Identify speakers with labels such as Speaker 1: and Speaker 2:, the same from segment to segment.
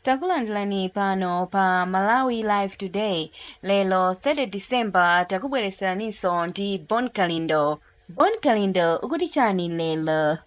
Speaker 1: Takulandirani pano pa Malawi Live Today. Lero 30 December takubweretseraninso ndi Bon Kalindo. Bon Kalindo ukuti chani lero?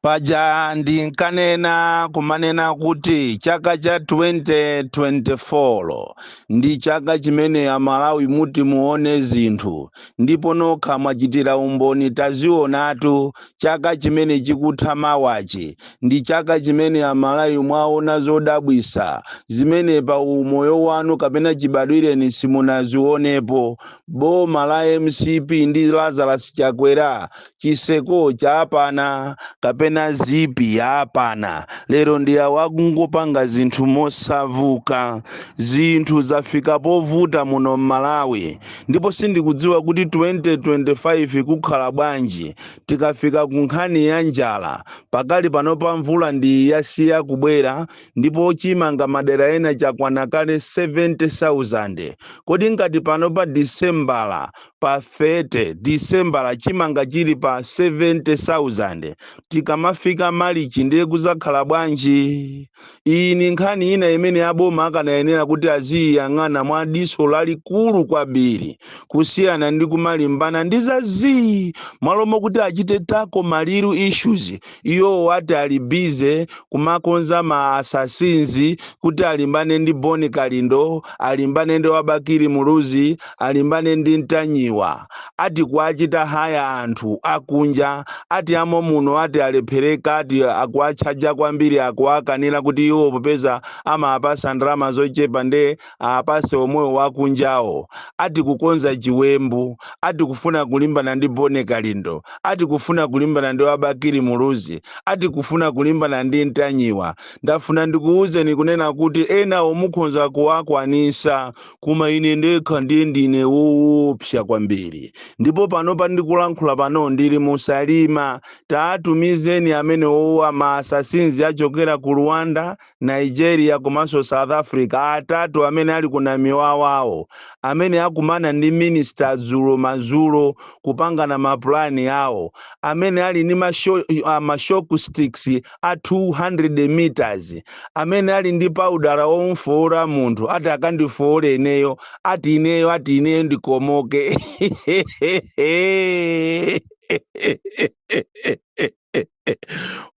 Speaker 1: Paja
Speaker 2: ndinkanena kumanena kuti chaka cha 2024 ndi chaka chimene Amalawi muti muone zinthu ndipo nokha mwachitira umboni tazionatu chaka chimene chikutha mawachi Ndi chaka chimene a Malawi mwaona zodabwisa zimene pa umoyo wanu kapena chibadwireni simunazionepo. Boma la MCP ndi Lazarus Chakwera chiseko chapana kapena zip yapana lero ndi awo akungopanga zinthu mosauka. Zinthu zafika povuta muno m'Malawi ndipo sindikudziwa kuti 2025 kukhala bwanji. Tikafika ku nkhani ya njala, pakali panopa mvula ndi iyi yasiya kubwera ndipo chimanga madera ena chakwana kale 70,000. Kodi ngati pano pa Disembala pa 30 Disembala chimanga chili pa 70,000, tikamafika Malichi ndiye kuzakhala bwanji? Iyi ndi nkhani ina imene aboma akanayenera kuti aziiyang'ana mwa diso lalikulu kwambiri kusiyana ndi kumalimbana ndi za zii m'malo mokuti achite tackle ma real issues iwowo ati ali busy kumakonza ma assassins kuti alimbane ndi Bon Kalindo alimbane ndi a Bakili Muluzi alimbane ndi Ntanyiwa ati kuwachita haya anthu akunja ati amommuno ati alephereka ati akuwatchaja kwambiri akuwakanira kuti iwo popeza amawapatsa ndalama zochepa nde awapatse omwewo akunjawo ati kukonza chiwembu ati kufuna kulimbana ndi Bon Kalindo ati kufuna kulimbana ndi a Bakili Muluzi ati kufuna kulimbana ndi Ntanyiwa ndafuna ndikuuzeni kunena kuti enawo mukhonza kuwakwanitsa Koma ine ndekha ndiye ndine woopsa kwambiri. Ndipo panopa ndikulankhula pano ndili mu Salima. Tawatumizeni amenewo ma assassins achokera ku Rwanda, Nigeria komanso South Africa atatu amene ali ku Namiwawawo, amene akumana ndi minister dzulo madzulo kupangana ma plan awo, amene ali ndi ma shock sticks a 200 meters amene ali ndi powder womufoola munthu ati akandifoole ineyo ati ineyo ati ineyo ndikomoke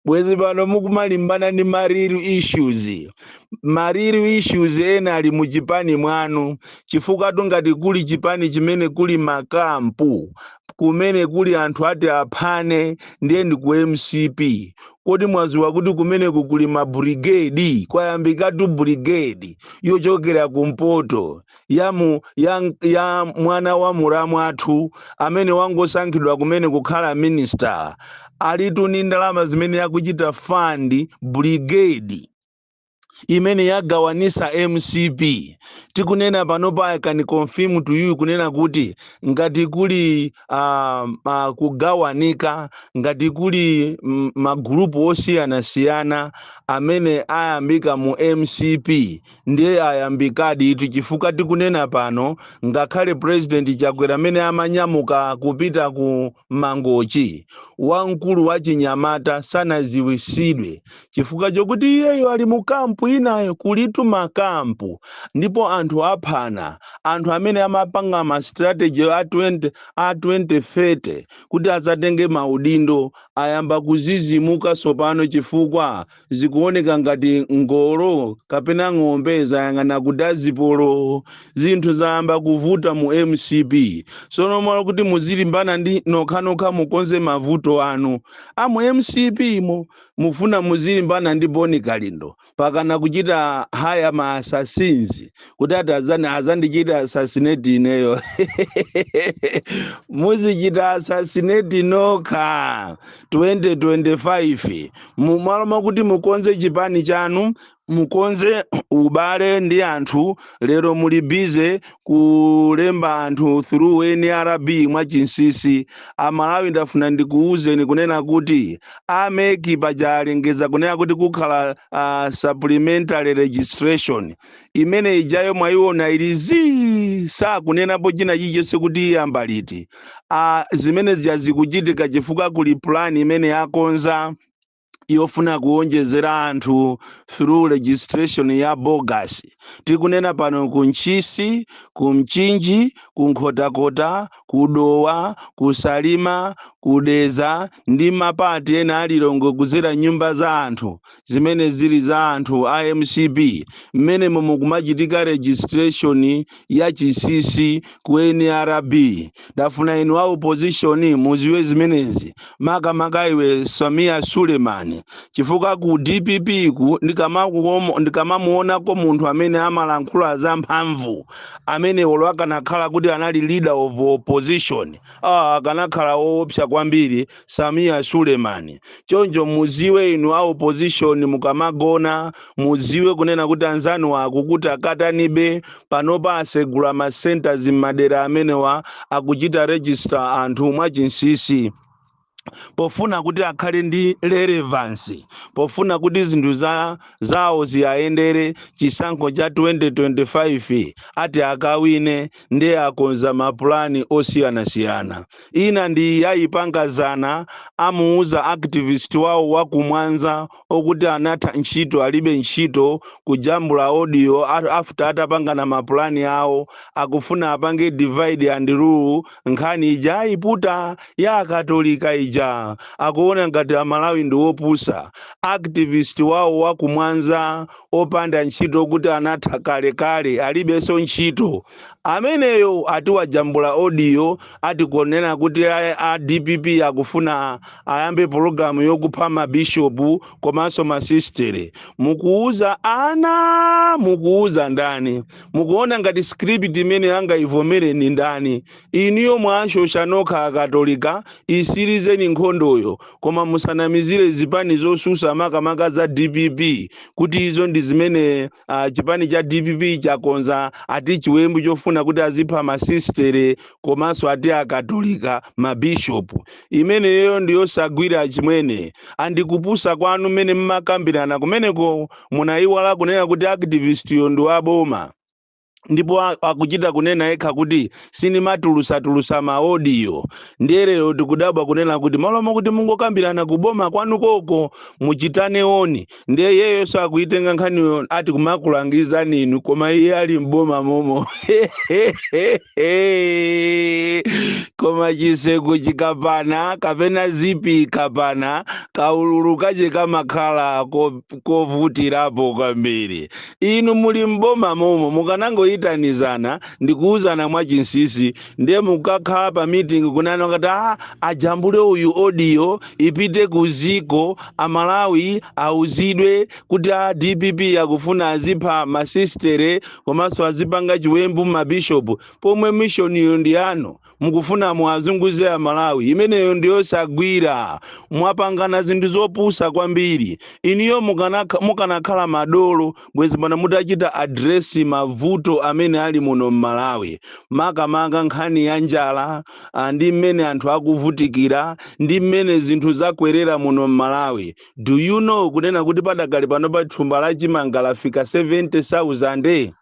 Speaker 2: bwezi pano mukumalimbana ndi ma real issues ma real issues ena ali mu chipani mwanu chifukwa tu ngati kuli chipani chimene kuli makampu kumene kuli anthu ati aphane ndiye ndi ku mcp kodi mwaziwa kuti kumeneku kuli ma brigade kwayambikatu brigade yochokera kumpoto ya, mu, ya, ya mwana wa muramu athu amene wangosankhidwa kumene kukhala minister alitu ni ndalama zimene akuchita fund brigade imene yagawanisa mcp tikunena panopa i can confirm to you kunena kuti ngati kuli uh, uh, kugawanika ngati kuli mm, magrupu osiyanasiyana amene ayambika mu mcp ndiye ayambikadi itu chifukwa tikunena pano ngakhale president chakwera amene amanyamuka kupita ku mangochi wamkulu wa chinyamata sanaziwisidwe chifukwa chokuti iyeyo ali mu kampu inayo kulitu makampu ndipo anthu aphana anthu amene amapanga ma strategy a 20 a 2030 kuti azatenge maudindo ayamba kuzizimuka sopano chifukwa zikuoneka ngati ngolo kapena ng'ombe zayang'ana kudazipolo zinthu zayamba kuvuta mu mcp sono mmalo kuti muzilimbana ndi nokhanokha mukonze mavuto anu amu mcp mo mufuna muzilimbana ndi bon kalindo mpakana kuchita haya ma assassins kuti ati azani azandichite assassinate ineyo muzichita assassinate nokha 2025 mumalo mwakuti mukonze chipani chanu mukonze ubale ndi anthu lero muli busy kulemba anthu through nrb mwachinsisi amalawi ndafuna ndikuwuzeni kunena kuti a mec paja alengeza kunena kuti kukhala uh, supplementary registration imene ijayo mwayiona ili zii sakunenapo china chilichonse kuti iyamba liti uh, zimene zija zikuchitika chifukwa kuli plan imene akonza yofuna kuwonjezera anthu through registration ya bogus tikunena pano ku ntchisi ku mchinji ku nkhotakota ku dowa ku salima ku dedza ndi mapati ena a lilongwe kuzera mnyumba za anthu zimene zili za anthu a mcp mmenemo mukumachitika registration ya chinsisi ku nrb ndafuna inu a opposition muziwe zimenezi makamaka iwe sameer suleman chifukwa ku dpp ku ndikamakuomo- ndikamamuonako munthu amene amalankhula za mphamvu amene olo akanakhala kuti anali leader of opposition ah, akanakhala woopsa kwambiri Samia Suleman. Choncho muziwe inu a opposition mukamagona muziwe kunena kuti anzanu akukutakatanibe panopa asegula ma centers m'madera amenewa akuchita register anthu mwachinsisi pofuna kuti akhale ndi relevance pofuna kuti zinthu zawo ziyayendere chisankho cha 2025 ati akawine ndiye akonza mapulani osiyanasiyana. Ina ndi iyi ayipanga zana, amuuza activist wawo wa ku Mwanza woti anatha ntchito alibe ntchito, kujambula audio after atapangana mapulani awo, akufuna apange divide and rule nkhani ija ayiputa ya akatolika ija. Akuona ngati Amalawi ndi opusa. Activist wawo wa ku Mwanza opanda ntchito okuti anatha kale kale alibenso ntchito ameneyo ati wajambula audio ati kunena kuti a dpp akufuna ayambe pologalamu yokupha mabishopu komanso masistere mukuuza ana mukuuza ndani mukuona ngati script imene angayivomereni ndani Inuyo mwashosha nokha akatolika, isilizeni nkhondoyo koma musanamizile zipani zosusa makamaka za dpp kuti izo ndi zimene chipani cha dpp chakonza ati chiwembu chofuna kuti azipha masistere komanso ati akatolika ma bishop. Imeneyoyo ndi yosagwira achimwene and ndi kupusa kwanu mmene mmakambirana kumeneko munaiwala kunena kuti activist yo ndi wa boma. ndipo akuchita kunena yekha kuti sinimatulusa-tulusa maodiyo ndiye lero tikudabwa kunena kuti malo mokuti mungokambirana kuboma kwanu koko muchitane oni ndiye iyeyoso akuyitenga nkhaniyo ati kumakulangizani inu koma iye ali m'boma momo koma chiseko chikapana kapena zipi ikapana kaululu kache kamakhala kovutirapo kwambiri Inu muli m'boma momo mukanangoitanizana ndikuuzana mwachinsisi ndiye mukakhala pa meeting kunena kuti aa ajambule uyu audio ipite kuziko amalawi auzidwe kuti a dpp akufuna azipha masistere komanso azipanga chiwembu mabishopu pomwe mission iyo ndi yanu mukufuna muwazunguze amalawi imeneyo ndiyosagwira mwapangana zinthu zopusa kwambiri inuyo mukanakhala madolo bwezi pano mutachita address mavuto amene ali muno mmalawi makamaka nkhani ya njala ndi mmene anthu akuvutikira ndi mmene zinthu zakwerera muno mmalawi do you know kunena kuti padakali panopa thumba la chimanga lafika 70000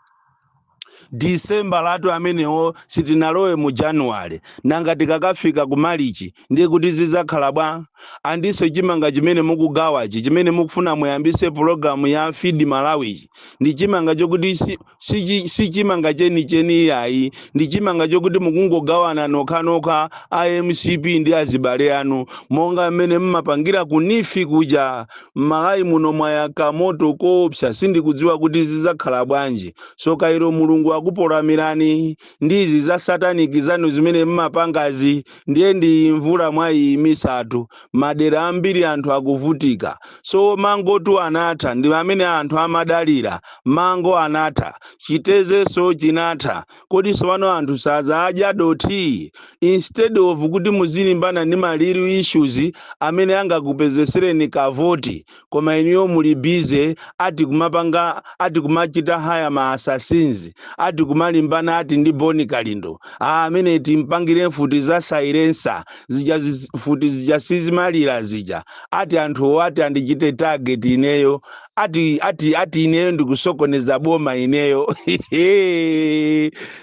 Speaker 2: December latu amenewo sitinalowe mu January nanga tikakafika ku Malichi ndiye kuti zizakhala bwa? Andinso chimanga chimene mukugawachi chimene mukufuna muyambise program ya feed Malawiyi ndi chimanga chokuti si, si, si chimanga cheni cheni iyayi ndi chimanga chokuti mukungogawana nokha nokha a mcp ndi azibale anu monga mmene mmapangira ku NEEF kuja M'Malawi muno mwayaka moto koopsa sindikudziwa kuti zizakhala bwanji. Soka ilo Mulungu akupolamirani ndi izi za satanic zanu zimene m'mapangazi ndiye ndi iyi mvula mwayiyimisatu. Madera ambiri anthu akuvutika. So mangotu anatha ndi amene anthu amadalira. Mango anatha. Chitezenso chinatha. Kodi tsopano anthu sazadya dothi? Instead of kuti muzilimbana ndi ma real issues amene angakupezesereni ka voti koma inuyo muli busy ati kumapanga ati kumachita hire ma assassins ati kumalimbana ati ndi Bon Kalindo. Aaa ameneyi timpangire mfuti za silencer zija zi mfuti zija sizimalira zija ati anthuwo ati andichite target ineyo ati ati ati ineyo ndikusokoneza boma ineyo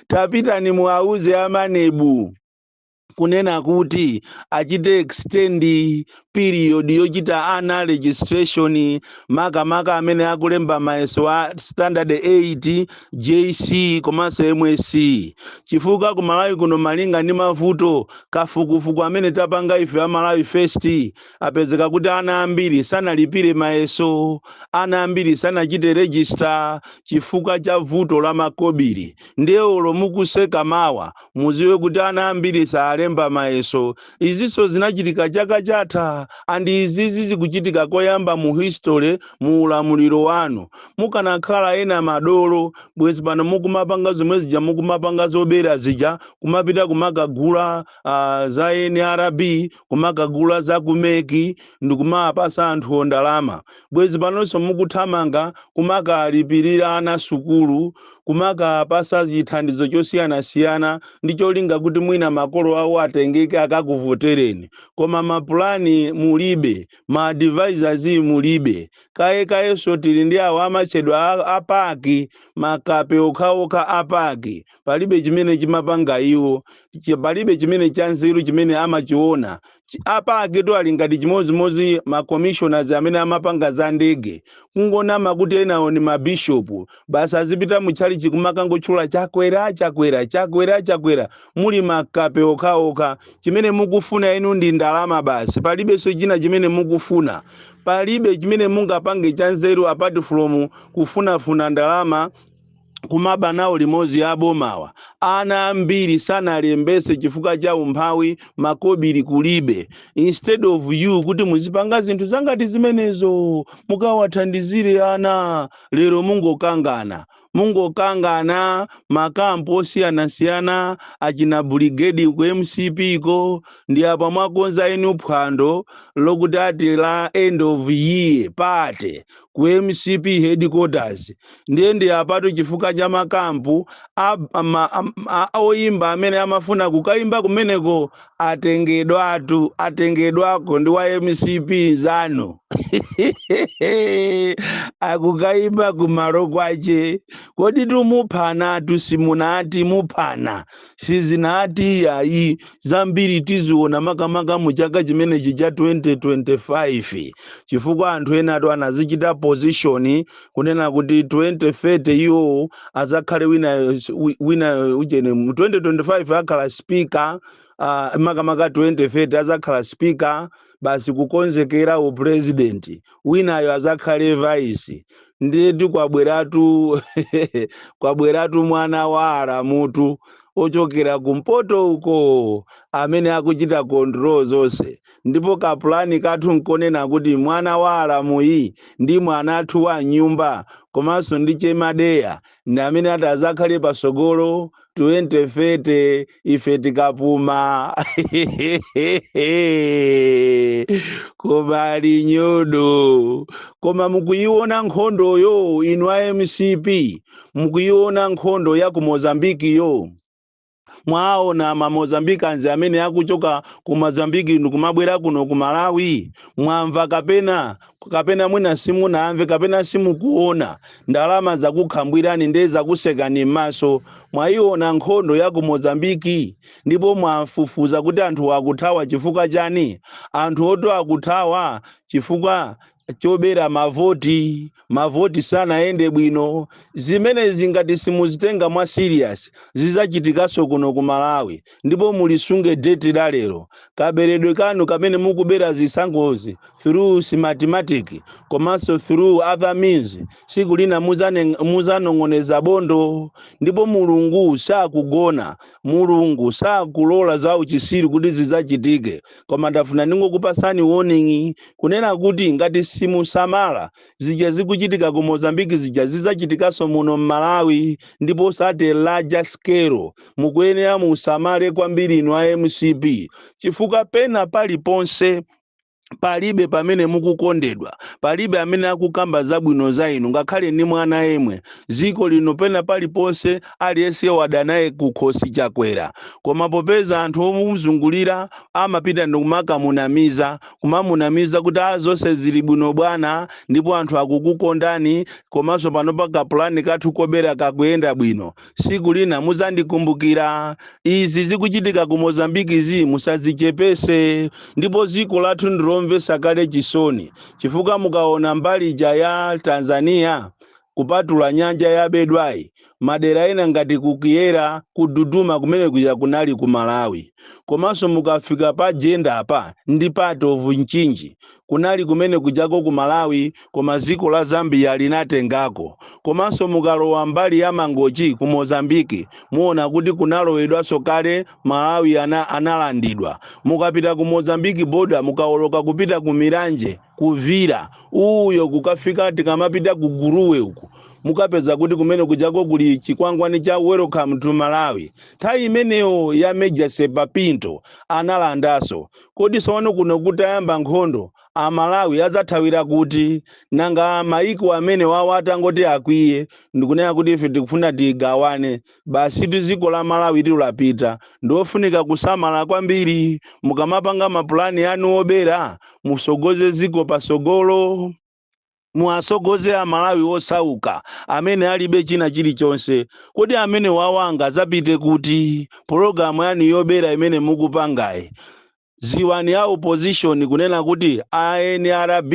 Speaker 2: tapitani muwauze a MANEB kunena kuti achite extend period yochita ana registration makamaka amene akulemba mayeso a standard 8 jc komanso MSCE chifukwa ku malawi kuno malinga ndi mavuto kafukufuku amene tapanga ife a malawi first apezeka kuti ana ambiri sanalipire mayeso, ana ambiri sanachite register chifukwa cha vuto la makobiri. Ndiye olo mukuseka mawa muziwe kuti ana ambiri saalemba mayeso. Izinso zinachitika chaka chatha and izizi zikuchitika koyamba mu history mu ulamuliro wanu. Mukanakhala ena madolo bwezi pano mukumapanga zomwe zija mukumapanga zobera zija kumapita kumakagula ah, za NRB kumakagula za ku mec ndi kumawapasa anthuwo ndalama bwezi panonso mukuthamanga kumakalipirira ana sukulu kumakapasa chithandizo chosiyanasiyana ndi cholinga kuti mwina makolo awo atengeke akakuvotereni koma mapulani mulibe ma advisors mulibe kaye kayenso tili ndi awo amatchedwa a- a PAC makape okhaokha a PAC palibe chimene chimapanga iwo, chi- palibe chimene chanzeru chimene amachiona. Chi- A PAC-tu ali ngati chimodzimodzi ma commissioners amene amapanga za ndege, kungonama kuti enawo ni mabishopu, basi azipita mu tchalichi kumakangotchula Chakwera, Chakwera, Chakwera, Chakwera, muli makape okhaokha. Chimene mukufuna inu ndi ndalama basi, palibenso china chimene mukufuna. Palibe chimene mungapange chanzeru apart from kufunafuna ndalama kumaba nawo limodzi a bomawa. Ana ambiri sanalembetse chifukwa cha umphawi makobili kulibe. Instead of you kuti muzipanga zinthu zangati zimenezo mukawathandizire ana, lero mungokangana. Mungokangana makampu osiyanasiyana achina Brigade ku mcp ko nde apa mwakonza inu phwando lokuti ati la end of year party. ku mcp headquarters ndiye nde apatu chifukwa cha makampu a, ama, am- a, a oyimba amene amafuna kukayimba kumeneko atengedwatu atengedwako ndi wa mcp nzanu akukayimba kumalo kwache kodi mumuphanatu simunati muphana sizinati iyayi zambiri tiziona makamaka mu chaka chimenechi cha 2025 chifukwa anthu enatu anadzichita position kunena kuti 2030 iwo azakhale wina wi- wina ujeni mu 2025 akhala speaker uh, makamaka 2030 azakhala speaker basi kukonzekera u president winayo azakhale vice ndiyetu kwabweratu kwabweratu mwana wa aramutu ochokera kumpoto uko amene akuchita control zonse ndipo kapulani kathu nkunena kuti mwana wa aramuyi ndi mwana wathu wa m'nyumba komanso ndi chemadeya ndi amene atazakhale pasogolo 2030 ife tikapuma koma ali nyodo koma mukuyiona nkhondoyo inu a mcp mukuyiona nkhondo ya ku mozambikiyo Mwaona ma Mozambicans amene akuchoka ku Mozambique ndikumabwera kuno ku Malawi? Mwamva kapena? Kapena mwina simunamve kapena simukuona? Ndalama zakukhwimbirani nde zakusekani m'maso. Mwaiona nkhondo ya ku Mozambique? Ndipo mwafufuza kuti anthuwa akuthawa chifukwa chani? Anthuwotu akuthawa chifukwa chobera mavoti mavoti sanayende bwino zimenezi zingati simuzitenga mwa serious zizachitikaso kuno ku malawi ndipo mulisunge date la lero kaberedwe kanu kamene mukubera zisankhozi through smartmatic komanso through other means siku lina muzane- muzanong'oneza bondo ndipo mulungu sakugona mulungu sakulola za uchisiru kuti zizachitike koma ndafuna ndingokupasani warning kunena kuti ngati simusamala zija zikuchitika ku mozambique zija zizachitikanso muno mmalawi ndipo zat a larger scale mukuyenera musamale kwambiri inu a mcp chifukwa pena paliponse palibe pamene mukukondedwa palibe amene akukamba zabwino za inu ngakhale ndi mwana yemwe dziko lino pena paliponse aliyense wadana naye kukhosi Chakwera koma popeza anthu omuzungulira amapita ndikumakamunamiza kumamunamiza kuti a zonse zili bwino bwana ndipo anthu akukukondani komanso panopa kapulani kathu kobera kakuyenda bwino siku lina muzandikumbukira izi zikuchitika ku Mozambique zi musazichepese ndipo ziko lathu ndilomvesa kale chisoni chifukwa mukaona mbali ija ya Tanzania Kupatula nyanja yabedwayi, madera ena ngati ku Kyela, ku Tunduma kumene kuja kunali ku Malawi. Komanso mukafika pa Jenda apa ndi part of Mchinji. Kunali kumene kujako ku Malawi koma dziko la Zambia linatengako. Komanso mukalowa mbali ya Mangochi ku Mozambique muona kuti kunalowedwanso kale Malawi analandidwa. Mukapita ku Mozambique border mukaoloka kupita ku Milanje. kuvira uyo kukafika tikamapita ku gurue uku mukapeza kuti kumene kujako kuli chikwangwani cha welcome to malawi nthawi imeneyo ya major serpa pinto analandaso kodi sono kuno kutayamba nkhondo amalawi adzathawira kuti nanga maiko amenewawa atangoti akwiye ndikunena kuti ife tikufuna tigawane Basitu dziko la Malawitu lapita. Ndiofunika kusamala kwambiri. Mukamapanga ma plan anu obera, mutsogoze dziko patsogolo. Muwatsogoze a Malawi osauka amene alibe china chilichonse. Kodi amenewawa angadzapite kuti? Program yanu yobera imene mukupangayi, Ziwani a opposition kunena kuti a nrb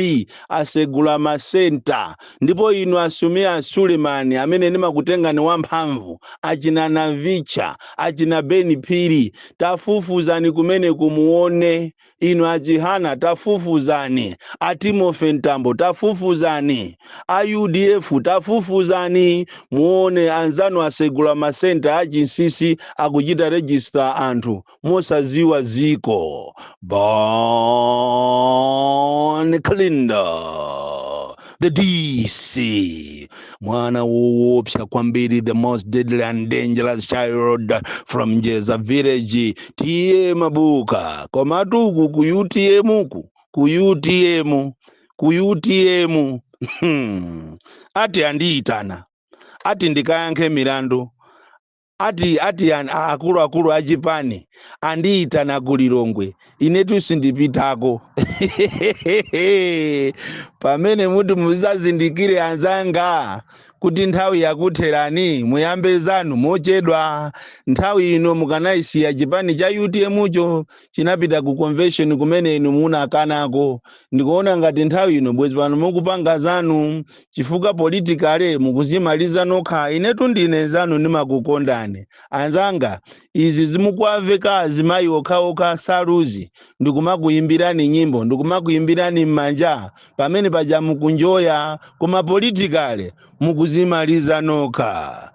Speaker 2: asegula ma center ndipo inu a Sameer Suleman amene ndimakutengani wa mphamvu, achina Navicha, achina Ben Phiri tafufuzani kumeneko muone, inu a Chihana tafufuzani, a Timothy Mtambo tafufuzani, a udf tafufuzani muone anzanu asegula ma center a chinsisi akuchita register anthu. mosaziwa ziko bon kalindo the dc mwana woopsa kwambiri the most deadly and dangerous child from njedza village tiye mabuka komatu uku ku utm uku ku utm ku utm Hmm. ati andiyitana ati ndikayankhe milandu Ati ati an a akuluakulu a chipani andiyitana ku Lilongwe, inetu sindipitako. Pamene muti muzazindikire anzanga kuti nthawi yakutherani muyambe zanu mochedwa. Nthawi ino mukanachisiya chipani cha utm cho chinapita ku convention kumene inu munakanako. Ndikuona ngati nthawi ino bwezi pano mukupanga zanu. chifukwa politically mukuzimaliza nokha inetu ndine nzanu ndimakukondani anzanga izi zomawaveka azimayi okhaokha saluzi ndikumakuyimbirani nyimbo ndikumakuyimbirani m'manja pamene paja mukunjoya koma politically mukuzimaliza nokha